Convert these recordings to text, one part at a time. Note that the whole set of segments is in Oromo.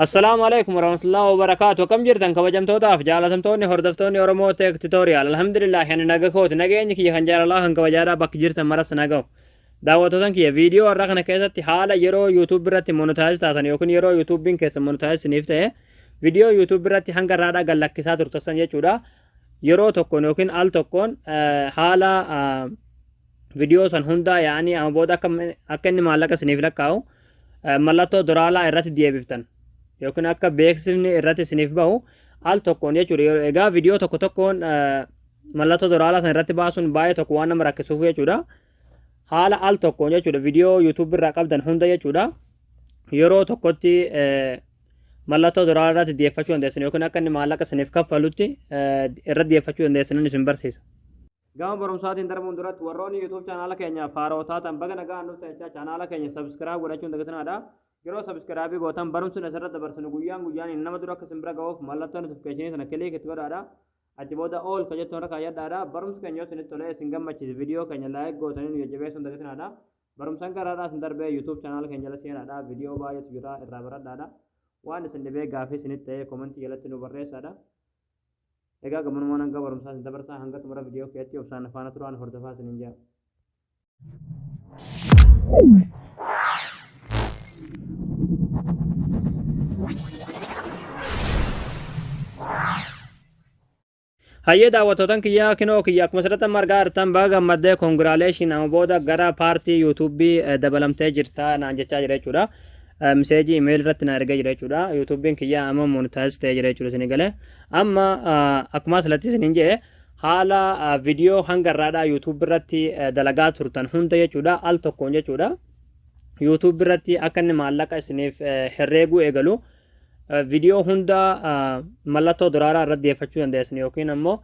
Assalaamu alaikum warahmatullahi wabarakaatu akkam jirtan kabajamtootaaf jaalatamtoonni hordoftoonni Oromoo Tech Tutorial alhamdulillah ani naga kooti nageenyi kiyya kan jaalalaa kan kabajaadhaa bakki jirtan maras nagahu daawwatootan kiyya viidiyoo har'a kana keessatti haala yeroo YouTube irratti monetaayiz taatan yookiin yeroo YouTube'n keessa monetaayiz isiniif ta'e viidiyoo YouTube irratti hanga irraadhaa gad lakkisaa turtan jechuudha yeroo tokkoon yookiin al tokkoon haala viidiyoo san hundaa yaa'anii amma booda akka inni maallaqa isiniif lakkaa'u mallattoo doraalaa irratti deebiftan yookiin akka beeksifni irratti isiniif bahu al tokkoon jechuudha egaa viidiyoo tokko tokkoon mallattoo doraalaa san irratti baasuun baay'ee tokko waan nama rakkisuuf jechuudha haala al tokkoon jechuudha viidiyoo yuutuubii irraa qabdan hunda jechuudha yeroo tokkotti mallattoo doraalaa irratti deeffachuu dandeessan yookiin akka inni maallaqa isiniif kaffalutti irratti deeffachuu dandeessan isin barsiisa. Gama barumsaatiin darbuun duratti warroonni YouTube chaanaala keenyaaf haaroo taatan baga nagaan dhuftan jechaa chaanaala keenya subscribe godhachuun dagatinaadha. Yeroo subscribe gootan barumsi asirratti dabarsinu guyyaan guyyaaniin nama dura akka isin bira ga'uuf mallattoo notification sana click itti godhaadha. Achi booda all kan jettu irra kaayyadhaadha. Barumsi keenya yoo isinitti tolee isin gammachiise viidiyoo keenya like gootanii nu jajjabeessuun dagatinaadha. Barumsaan garaadhaa isin darbee YouTube chaanaala keenya jala seenaadha. Viidiyoo baay'eetu jira irraa baradhaadha. Waan isin dhibee gaafii isinitti ta'ee komentii jalatti nu barreessaadha. Egaa gamanumaan hangaa barumsaa isin dabarsaa hanga xumura viidiyoo keetti obsaan na faana turaan hordofaa isiniin jaa. Hayyee daawwattootan kiyyaa kinoo kiyya akkuma sirriitti margaa artan baga gammaddee koongiraaleeshin amma booda gara paartii yuutuubii dabalamtee jirta naan jechaa jira jechuudha. miseejii email irratti na ergee jira jechuudha yuutuubiin kiyyaa amma monitaayiz ta'ee jira jechuudha isin galee amma akkuma asilatti isin jedhe haala viidiyoo hanga irraadhaa yuutuubii irratti dalagaa turtan hunda jechuudha al tokkoon jechuudha yuutuubii irratti akka inni maallaqa isiniif herreeguu eegalu viidiyoo hunda mallattoo duraaraa irratti deeffachuu dandeessan yookiin ammoo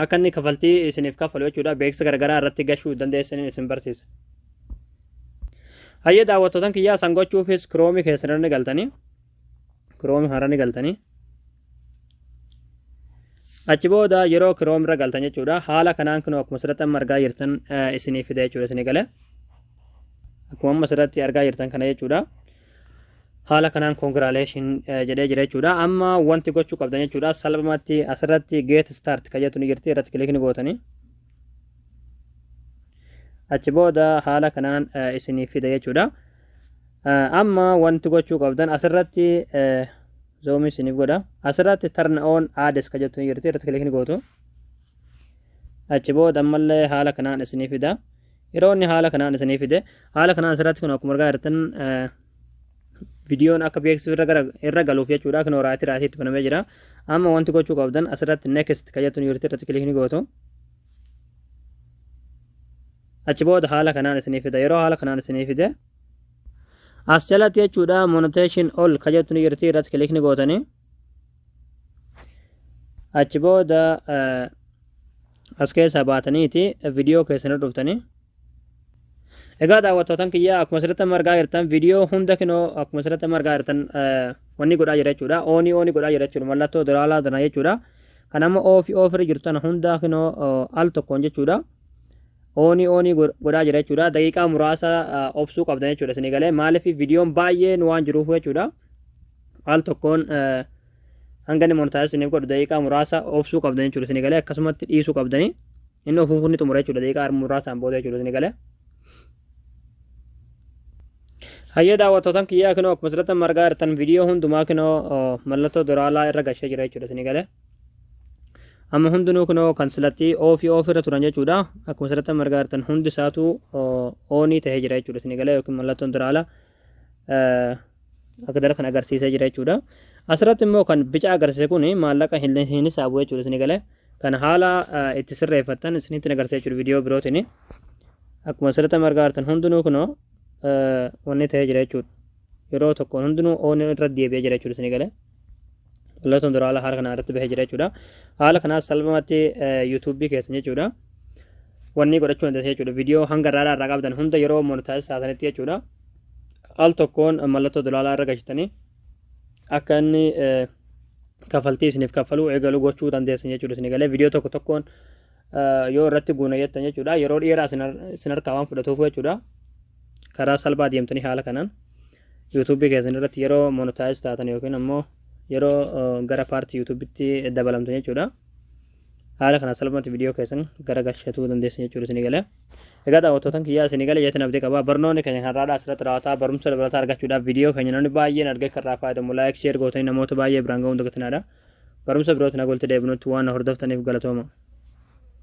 akka inni kafaltii isiniif kaffalu jechuudha beeksisa garagaraa irratti gashuu dandeessaniin isin barsiisa. Hayyee daawwattootan kiyyaa san gochuufis kiroomii keessan irra ni galtanii kiroomii hara ni galtanii achi booda yeroo kiroom irra galtan jechuudha haala kanaan kunoo akkuma asirratti amma argaa jirtan isiniif fida jechuudha isinii galee akkuma amma asirratti argaa jirtan kana jechuudha. haala kanaan congratulation jedhee jira jechuudha amma wanti gochuu qabdan jechuudha salphumatti asirratti get start kan jettu ni jirti irratti kilikni gootanii achi booda haala kanaan isiniif fida jechuudha amma wanti gochuu qabdan asirratti zoomii isiniif godha asirratti turn on ads kan jettu ni jirti irratti kilikni gootu achi booda ammallee haala kanaan isiniif fida yeroo inni haala kanaan isinii fide haala kanaan asirratti kun akkuma argaa jirtan viidiyoon akka beeksisuu irra gara irra galuuf jechuudha kun horaati irraa asitti banamee jira amma wanti gochuu qabdan asirratti next kayyattuun yoo irratti kilik ni gootu achi booda haala kanaan isinii fida yeroo haala kanaan isinii fide as jalatti jechuudha monotation all kayyattuun yoo irratti kilik ni gootanii achi booda as keessaa baataniiti viidiyoo keessan dhuftanii egaa daawwattootan kiyyaa akkuma asirratti amma argaa jirtan viidiyoo hunda kinoo akkuma asirratti amma argaa jirtan wanni godhaa jira jechuudha oonii oonii godhaa jira jechuudha mallattoo dolaalaa tana jechuudha kan amma oofi oofirra jirtu tana hundaa kinoo al tokkoon jechuudha oonii oonii godhaa jira jechuudha daqiiqaa muraasa obsuu qabdan jechuudha isin egalee maaliif viidiyoon baay'een waan jiruuf jechuudha al tokkoon hanga inni monetaayiz isiniif godhu daqiiqaa muraasa obsuu qabdan jechuudha isin galee akkasumatti dhiisuu qabdanii inni ofuu funni xumura jechuudha daqiiqaa muraasaan booda jechuudha isin galee. Hayyee daawwattootan kiyyaa kinoo akkuma asirratti margaa jirtan viidiyoo hundumaa kinoo mallattoo doraalaa irra gashee jira jechuudha isin galee. Amma hundinuu kinoo kan silatti oofii oofirra turan jechuudha akkuma asirratti margaa jirtan hundi isaatuu oonii ta'ee jira jechuudha isin galee yookiin mallattoon doraalaa akka dara kan agarsiisee jira jechuudha. Asirratti immoo kan bica agarsiise kun maallaqa hin hin saabu jechuudha isin galee kan haala itti sirreeffattan isinitti agarsiisa jechuudha viidiyoo birootiin. Akkuma asirratti amma argaa jirtan hundinuu kunoo wanni ta'ee jira jechuudha. Yeroo tokkoon hundinuu oon irra deebi'ee jira jechuudha isin galee. Mallattoon dura haala haala kanaa irratti bahee jira jechuudha. Haala kanaas salphaatti yuutuubii keessan jechuudha. Wanni godhachuu dandeessan jechuudha. Viidiyoo hanga irraa irraa qabdan hunda yeroo monitaayiz taatanitti jechuudha. Al tokkoon mallattoo dolaalaa irra galchitanii akka inni kafaltii isiniif kaffaluu eegaluu gochuu dandeessan jechuudha. Isin egalee viidiyoo tokko tokkoon yoo irratti guuna jettan jechuudha. Yeroo dheeraa isin harkaa waan fudhatuuf jechuudha. Karaa salphaa deemtanii haala kanaan. YouTube keessan irratti yeroo monetize taatan yookiin ammoo yeroo gara paartii YouTubetti dabalamtu jechuudha. Haala kana salphumatti viidiyoo keessan gara galchatuu dandeessan jechuudha isin galee. Egaa daawwattootan kiyyaa isin galee jeetan abdii qaba. Barnoonni keenya kan raadhaa asirratti raawwataa barumsa dabalataa argachuudhaaf viidiyoo keenya namni baay'een argee kan irraa fayyadamu laayik sheer gootanii namoota baay'ee biraan ga'uun dagatinaadha. Barumsa birootiin hanga walitti deebinutti waan na hordoftaniif galatooma.